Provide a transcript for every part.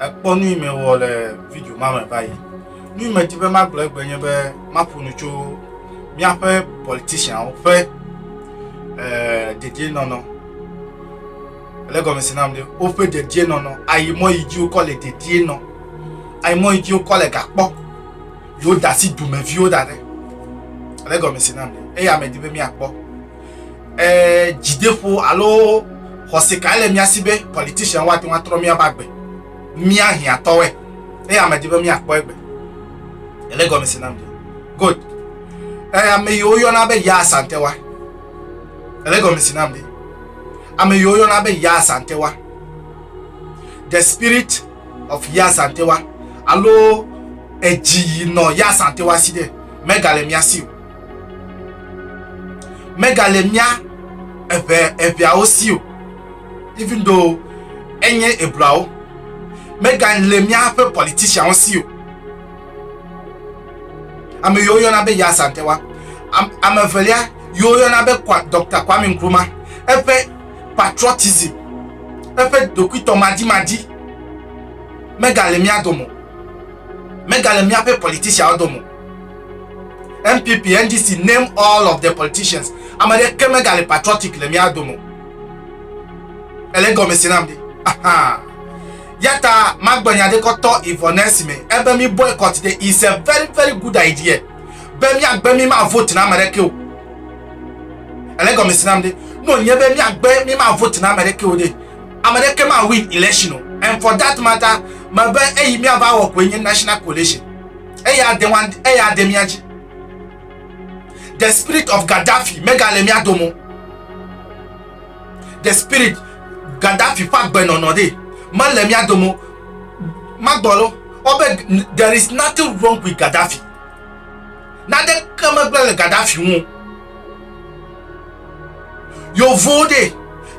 Ekpɔ nu yi mewɔ le video ma me va yi. Nu yi medi be magblɔ egbe nye be maƒo nu tso míaƒe politicianwo ƒe eh, dedienɔnɔ. Le gɔmesi nam ɖe woƒe dedienɔnɔ. Ayi mɔ yi dzi wokɔ le dedienɔ. Ayi mɔ yi dzi wokɔ le gakpɔ. Yewo da asi dumeviwo da ɖe. Le gɔmesi nam ɖe. Eya medi be míakpɔ. eh, dzideƒo alo xɔse kae le mía si be politician woate ŋu atrɔ míaƒe agbe mía hiãtɔe eye ame di be míakpɔ egbe ele gɔme se nam good eh, ame yi woyɔna be ya asantewa ele gɔme se nam ame yi woyɔna be ya asantewa the spirit of ya asantewa alo edzi yi nɔ ya asantewa si ɖe megale mía si o megale mía eŋe eŋeawo si o even though enye Hebraiwo, megale míaƒe politicianwo si o. Ame yiwo yɔna be Yazan Tewa, ame evelia yiwo yɔna be Dr. Kwame Nkrumah, eƒe patriotism, eƒe ɖokuitɔ madimadi megale mía dome, megale míaƒe politicianwo dome. NPP, NDC, name all of the politicians. Ame ɖeke megali patriotic le mía dome. Ele gɔme si nam ɖi. Aha. Yata magbenya ɖe kɔtɔ Ivonesi me. Ebe mi boycott ɖe is a very very good idea. Be miagbe mi ma vote na ame ɖeke o. Ele gɔme si nam ɖi. No nye be miagbe mi ma vote na ame ɖeke o ɖe. Ame ɖeke ma win election o. And for that matter, mebe eyi miava wɔ koe nye national coalition. eya ade wan eya ade mía dzi the spirit of Gaddafi megale mía dome o the spirit Gaddafi ƒe agbenɔnɔ ɖe mele mía dome o magbɔ lo ɔbe there is nothing wrong with Gaddafi naneke megblẽ le Gaddafi ŋu yovo ɖe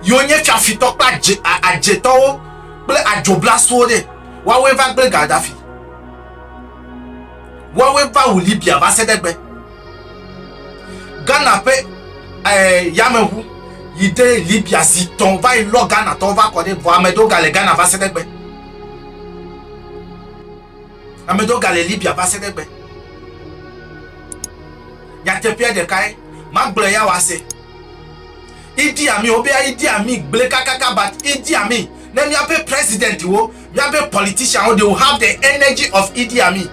yiwo nye fiafitɔ kple adze adzetɔwo kple adzoblaswo ɖe woawoe va gblẽ Gaddafi Woawoe va wu Libya va se ɖe egbe. Ghana ƒe eh, yameŋu yi ɖe Libya zi tɔn va yi lɔ Ghana tɔwo va kɔ ɖe vɔ ame ɖewo gale Ghana va se ɖe egbe. Ame ɖewo gale Libya va se ɖe egbe. Nyateƒea ɖekae, magblɔe ya wòase. Idi Amin, wobea Idi Amin gblẽ kakaka, but Idi Amin ne míaƒe presidentwo Miabe politician wo they will have the energy of Idi Amin.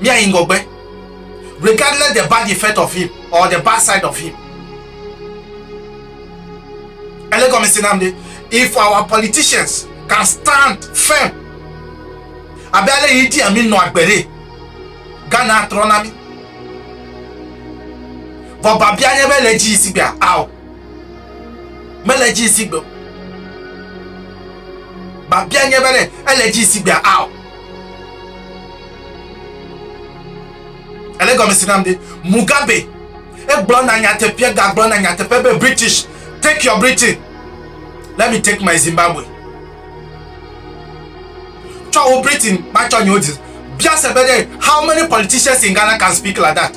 Miayi ŋgɔgbe regardless the bad effect of him or the bad side of him. Ele gɔme se nam ɖe if our politicians can stand firm abe ale Idi Amin nɔ agbe ɖe Ghana atrɔ na mi. Vɔ babia nye be le dzi yi sigbea ao. mele edzi zi gbe o. Babia nye be ɖe ele edzi zi gbea ao. Ele gɔme si nam de Mugabe egblɔ na nyateƒe gagblɔ na nyateƒe be British take your Britain let me take my Zimbabwe. Tsɔ wo Britain matsɔ nyewo di. Bia se be ɖe how many politicians in Ghana can speak like that.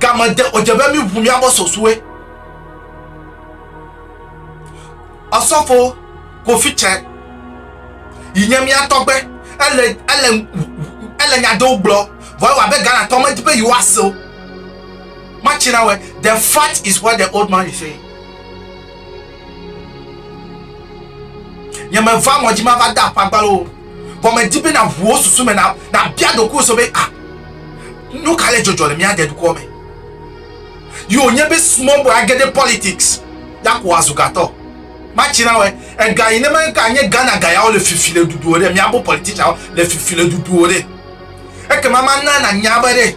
Game de o dze be mi ʋu mia bɔ sɔsue. Ɔsɔfo Kofi Cɛ yi nye mia tɔgbe ele ele ele nya ɖewo gblɔ vɔ ewa be Ghana tɔ me di be yi wa se o. Ma china we the fact is what the old man is saying. Nye me va ŋɔdzi ma va da aƒagbalo o. Vɔ me di be na ʋu wo susu me na, na bia ɖoku wo so be, ah, nu ka le dzɔdzɔ le mia de dukɔ me? Yi o nye be small boy a ge ɖe politics ya ko wa zu gatɔ. Ma tsi na wɛ, ega yi ne me ga nye Ghana ga ya wo le fifi le dudu o ɖe, mia bo politician wo le fifi le dudu o ɖe. Ekema ma na na nya be ɖe.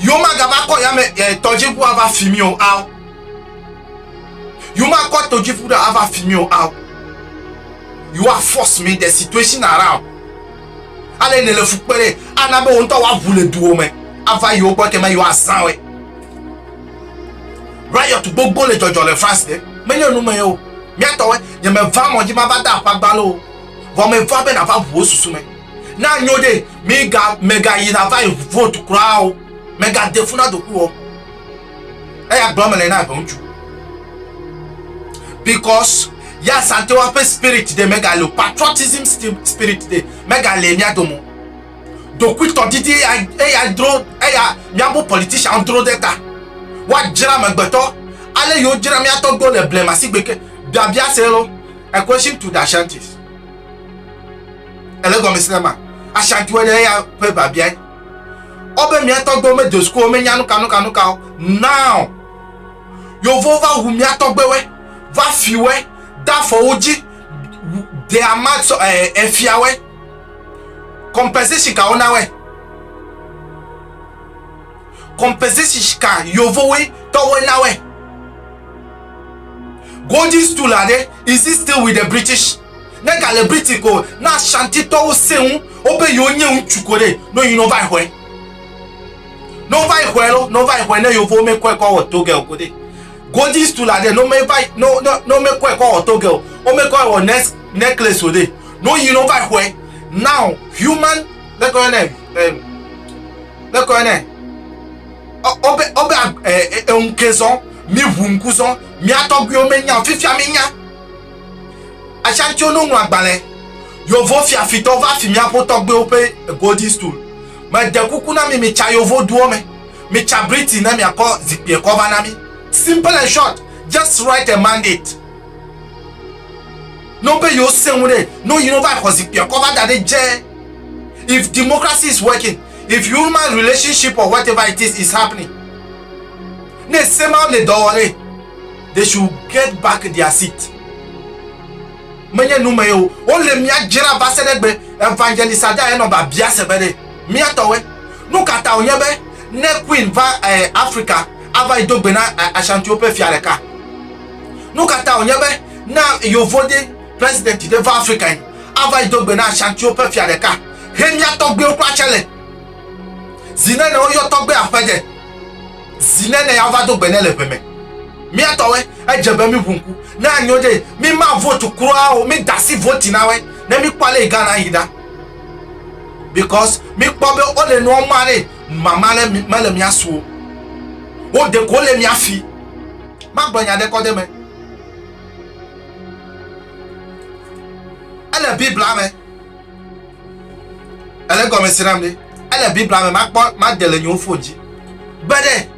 Yewomagava kɔ yame e tɔdziʋu ava fi mi o ao. Yewomakɔ tɔdziʋu ɖe ava fi mi o ao. You are force me the situation around. Ale ne le fu kpe ɖe ana be wo ŋutɔ woaʋu le duwo me ava yewo gbɔ ekema yewo azã wɔe. Riot gbogbo le dzɔdzɔ le France ke menye nu me o. Miatɔwe nyemeva mɔ dzi mava da akpa gbalo o. Vɔ meva be nava ʋu wo susu me. na nyo ɖe miga mègayi nava yi vote kura o mègade fu na doku o eya gblɔ mele na eve ŋutsu because ya santewa ƒe spirit ɖe megale o patriotism spirit ɖe megale mía dome dokuitɔ didi eya eya dro eya míaƒe politician dro ɖe ta woadzra megbetɔ ale yiwo dzra mía tɔgbewo le blema sigbe ke biabia se lo equation to the ashantis ele gɔme si ma ashatue ɖe eya ƒe biabiae ɔbe miatɔ gbɔ me dosko me nya nuka nuka nuka o now yovo va wu miatɔ gbewɛ va fiwɛ da fɔwo dzi de ama sɔ ɛ efiawɛ compensation ka wona wɛ compensation ka yovowe tɔwɛ na wɛ golden stool are is it still with the british Ne ga le Britain ko na Ashanti tɔwo se ŋu wo be yewo nye ŋutsu ko ɖe no yi no va yi xɔe. No va yi xɔe lo, no va yi xɔe ne yovo me kɔe kɔ wɔ toge o ko ɖe. Golden stool la ɖe no me va yi no no no me kɔe kɔ wɔ toge o. Wo me kɔe wɔ nes necklace o ɖe. No yi no va yi xɔe. Now human le kɔe ne eh le kɔe ne obe obe eh eh ŋkezɔn mi ŋu ŋkuzɔn mi atɔgbiwo me nya fifia mi nya. Asia tso nuŋlɔagbalẽ Yovo fiafitɔ va fi míaƒo tɔgbuiwo ƒe Golden Stool. Mede kuku na mi mitsa Yovo duwo me. Mitsa Britain ne miakɔ zikpuiɛ kɔ va na mi. Simple and short, just write a mandate no be yewo se ŋu ɖe no yi no va xɔ zikpuiɛ kɔ va da ɖe dze. If democracy is working, if human relationship or whatever it is is happening, ne se mawo le dɔ wɔ ɖe, they should get back their seat menye nu me o wo le mia jra va se ɖe gbe evangelist ada enɔ ba bia se be ɖe mia tɔwe nu kata onye be ne queen va eh, africa ava yi do gbe na eh, ashanti wo pe fia ɖeka nu kata onye be na yovo de president de va africa yi ava yi do gbe na ashanti wo pe fia ɖeka he mia tɔgbe wo kura chale zinene wo yɔ tɔgbe aƒe de Zi nene ya va do gbe ne le ʋe me. Mia tɔwe, edze be mi ʋu ŋku ne anyo ɖe mi ma vote kura o, mi dasi vote na we ne mi kpɔ ale Ghana yi ɖa. Because mi kpɔ be o le nua ma ɖe mama le me le mia suo. Wo de ko le mia fi. Ma gblɔ nya ɖe kɔ de me. Ele Biblia me. Ele gɔme si nam ɖe. Ele Biblia me makpɔ made le nyewo fon dzi. Gbe ɖe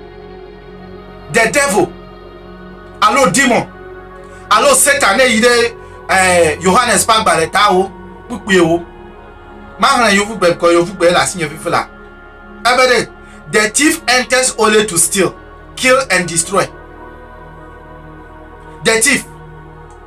the devil alo demon alo Satan ne yi ɖe eh, Yohanes ƒe agbalẽ tawo kpukpuiwo. Mahlẽ yovugbe gɔ yovugbe le asinye vivi la. Ebe ɖe the thief enters only to steal, kill and destroy. The thief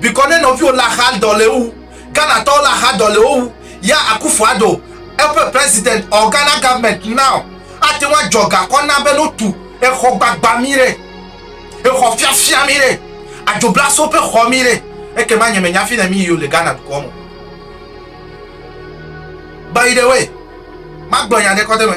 bikɔ ne nɔviwo le axa dɔ le wu Ghana tɔwo le axa dɔ le wo wu ya Akufo Addo eƒe president or Ghana government now ate ŋu adzɔ gakɔ na be no tu exɔ gbagba mi re exɔ fiafia mi re adzo blaso ƒe xɔ mi re eke ma nye me nya fi ne mi yo le Ghana dukɔ mo by the way ma gblɔ nya ɖe kɔ de me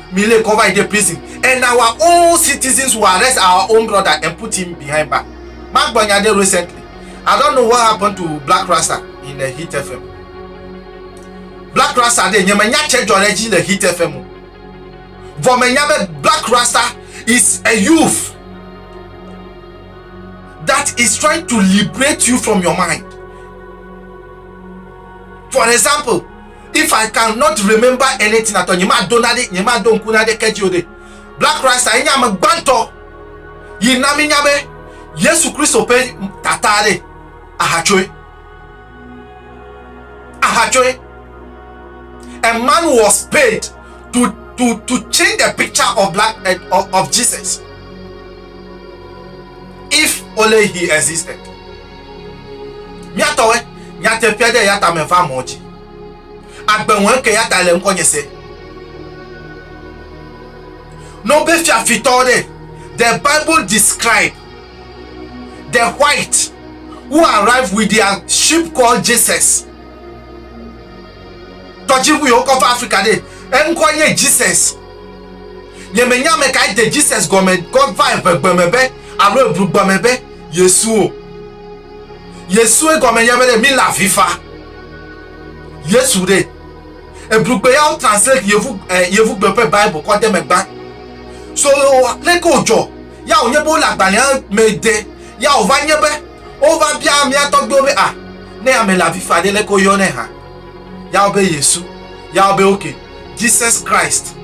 Mi le kɔ va yi ɖe prison and our own citizens will arrest our own brother and put him behind bar. Ma gbɔ nya ɖe recently. I don't know what happened to Black Rasta in the Hit FM. Black Rasta ɖe nye me nya tse dzɔ ɖe dzi le Hit FM o. Vɔ me nya be Black Rasta is a youth that is trying to liberate you from your mind. For example, If I can not remember anything at all, nye ma do nade, nye ma do ŋku nade ke dzi o ɖe. Black Christ enye ame gbãtɔ yi na mi nya be Yesu Kristo ƒe tata ɖe ahatsoe. Ahatsoe. A man was paid to, to, to change the picture of black, eh, of, of Jesus. If only he existed. Mía tɔwɛ, nyateƒea ɖe ya ta me va mɔ dzi. Agbe ŋɔe ke ya ta le ŋkɔ nye se. No be fiafitɔ ɖe, the Bible describe the white who arrive with their ship called Jesus. Tɔdziŋu yi wokɔ va Afrika ɖe, eŋkɔ nye Jesus. Nye me nya me ka ede Jesus gɔme kɔ va evegbeme be, alo eblugbame be. Yesuo. Yesue gɔme nye be ɖe míle avi fa. Yesu ɖe. Ebrugbe ya wo translate yevu eh, yevugbe ƒe Bible kɔ de megba. So leke wòdzɔ ya wònye be wole agbalẽa me de ya wòva nye be wova bia mía tɔgbiwo be ah, ne ame le avi fa ɖe leke woyɔnɛ hã. Ya wo be Yesu. Ya wo be okay, Jesus Christ.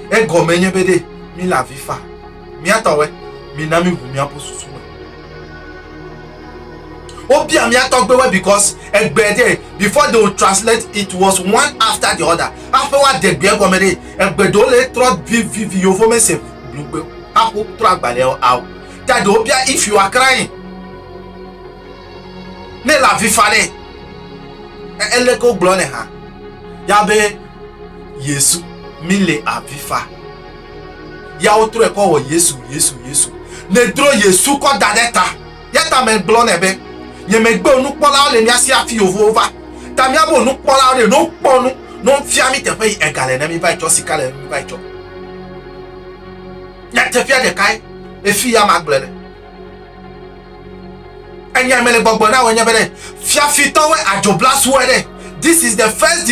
Egɔme nye be ɖe míle avi fa. Mía tɔwoe, mina míʋu míaƒu susu me. Wobia mía tɔgbewoe because egbe ɖe before they will translate it was one after the other. Aƒe wa de gbe gɔme ɖe egbe ɖewo le trɔ vivivi yovo me se blugbe aƒo trɔ agbalẽ ao. Ta ɖewo bia if you are crying. Ne le avi fa ɖe ele ke wogblɔ ne ha. Ya be Yesu mi le avi fa. ya wotrɔe kɔ wɔ yesu yesu yesu nedro yesu kɔ da ɖe ta ya ta megblɔ nɛ be nye megbe nukpɔlawo le mía si afi yovowo va ta míabo nukpɔlawo ɖe no kpɔ nu no fia mi teƒe yi ega le ne mi va etsɔ sika le mi va etsɔ nyateƒea ɖekae efi ya magblɔ le enya mele gbɔgbɔ na wònye be ɖe fiafitɔwoe adzoblaswoe ɖe this is the first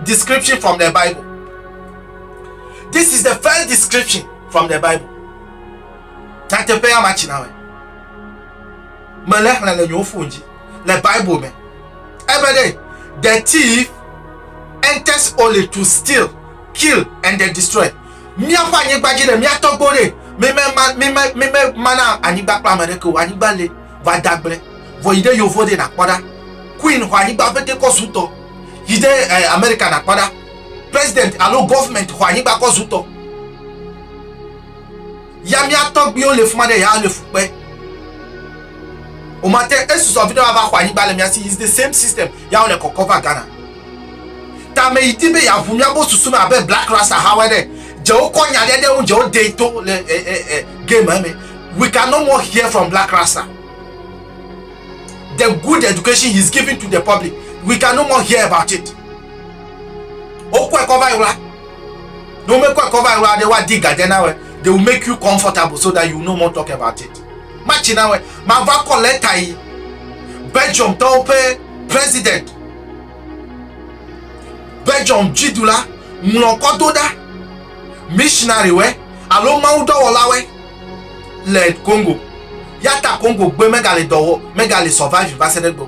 description from the bible This is the first description from the Bible. Nyateƒea ma tsi na me. Me le xlẽ le nyewo fon dzi le Bible me. Ebe ɖe the thief enters only to steal, kill and then destroy. Míaƒe anyigba dzi le míatɔgbo ɖe mímemana mana anyigba kple ame ɖeke o. Anyigba le va dagblẽ vɔ yi ɖe yovo ɖe nakpɔ ɖa. Queen xɔ anyigba ƒete kɔ sutɔ yi ɖe eh, Amerika nakpɔ ɖa. president alo government xɔ anyigba kɔ zutɔ. Ya mía tɔgbiwo le fuma ɖe ya le fukpe. O ma te esusɔ vi ɖe wa va xɔ anyigba le mía si. Is the same system. Ya wole kɔkɔ va Ghana. Ta me yi di be ya ʋu mía bo susu me abe Black Rasta hawe ɖe. Dzewo kɔ nya ɖe ɖe ŋu dzewo de to le e, eh, e, eh, e, eh, game eme. We can no more hear from Black Rasta. The good education he is giving to the public. We can no more hear about it. Wokɔe kɔ va ɣla. Ne womekɔe kɔ va ɣla ɖe woadi gadze na wɛ. They will make you comfortable so that you no more talk about it. Matsi na wɛ. Mava kɔ leta yi Belgium tɔwo ƒe president. Belgium dziɖula ŋlɔ kɔ do ɖa missionary wɛ alo mawudɔwɔla wɛ le Congo. Yata Congo gbe megale dɔwɔ megale survive va se ɖe gbɔ.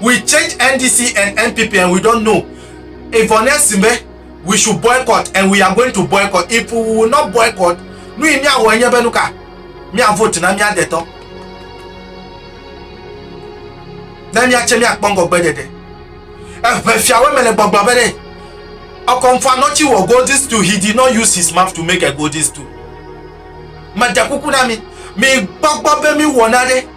we change NDC and NPP and we don't know. Ivonne we should boycott and we are going to boycott. If we will not boycott, nu yi miawɔ enye be nuka mia vote na mia detɔ. Ne miatse miakpɔ ŋgɔgbe ɖeɖe. Eʋe fiawo me le gbɔgblɔ be ɖe. Ɔkɔnfa nɔtsi wɔ golden stool he did not use his mouth to make a golden stool. Mede kuku na mi. Mi gbɔgbɔ be mi wɔ na ɖe.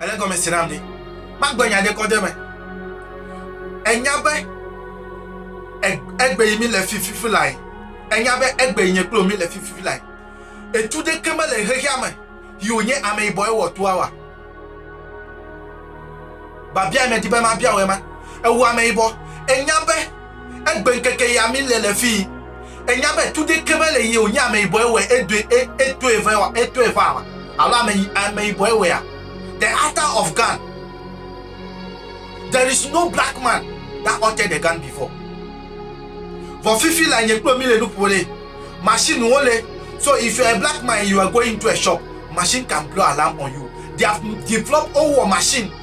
Ele gɔme si nam be magblɔ nya ɖe kɔ ɖe eme. Enya be egbe yi mi le fififi lae. Enya be egbe yi nye kple mi le fififi lae. Etu ɖeke mele xexea me yi wònye ameyibɔ ewɔ tua wa. Babia yi medi be mabia wò ema. Ewu ameyibɔ. Enya be Egbe ŋkeke ya mi le le fii. Enya be tu ɖeke me le ye wònye ameyibɔe wɔe edoe e, etoe vɛ wa, etoe va wa, alo ame ameyibɔe wɔea. The Arthur of Gan. There is no black man that altered the gun before. Vɔ fifi la nye kple mi le nuƒo le machine wo le. So if you are a black man and you are going into a shop, machine can blow alarm on you. They have developed wowɔ machine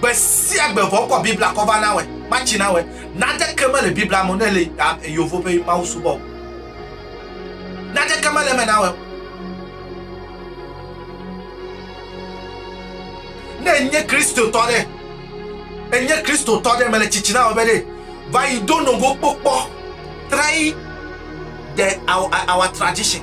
Gbe sia gbe vɔ kɔ bibla kɔ va na wɛ ma tsi na wɛ nade ke mele bibla mo ne le yovo pe mawu subɔ nade ke mele me na wɛ ne nye kristo tɔ de enye kristo tɔ de mele tsitsi na wɛ be de va yi do nogo kpokpɔ try the our, our tradition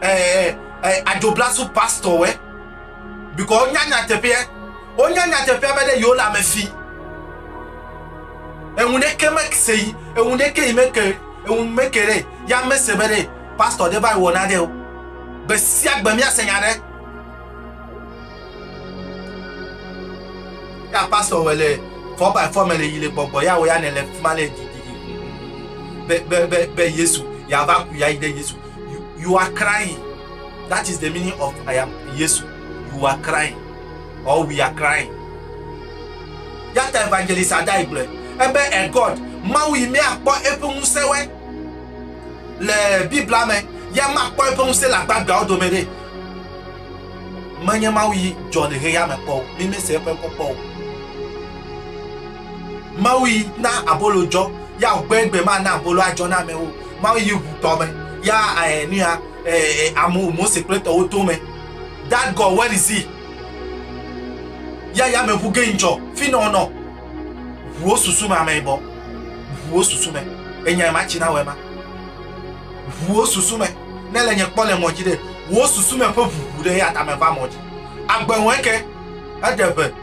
eh, eh, adzoblasu pastɔwɔe bikɔ wonya nyateƒea wonya nyateƒea be ɖe yewo le ame fi eŋu ɖeke mese yi eŋu ɖeke yi meke eŋu meke ɖe ya mese be ɖe pastɔ ɖe va yi wɔna ɖe o gbe sia gbe míase nya ɖe ya pastɔ wɔ le fɔ by fɔ me le yi le gbɔgbɔ ya wɔ ya ne le fi ma le didi be be be be yesu yava ku ya yi ɖe yesu you, you are crying that is the meaning of i am yesu you are crying or we are crying yata evangelist adai gblɔe ebe e god mawu yi míakpɔ eƒe ŋusẽwɔe le biblia me ya makpɔ eƒe ŋusẽ le agbagbeawo dome ɖe menye mawu yi dzɔ le heya me kpɔ o mímese eƒe ŋkɔ kpɔ o Mawu yi na abolo dzɔ, ya ŋu gbɛ gbɛ ma na abolo adzɔ na amewo. Mawu yi ŋu tɔ me, ya eh, nuya eh, eh, amu Mose kple tɔwo to me. That God, where is he? Ya ya me ŋu geng dzɔ, fi nɔ nɔ. Ŋuwo susu me ame bɔ, ŋuwo susu me. Enya ema tsi na wɔ ema. Ŋuwo susu me, ne le nye kpɔ le mɔdzi ɖe, wo susu me ƒe ŋuŋu ɖe ya ta me va mɔdzi. Agbe ŋu eke, eɖe ʋe.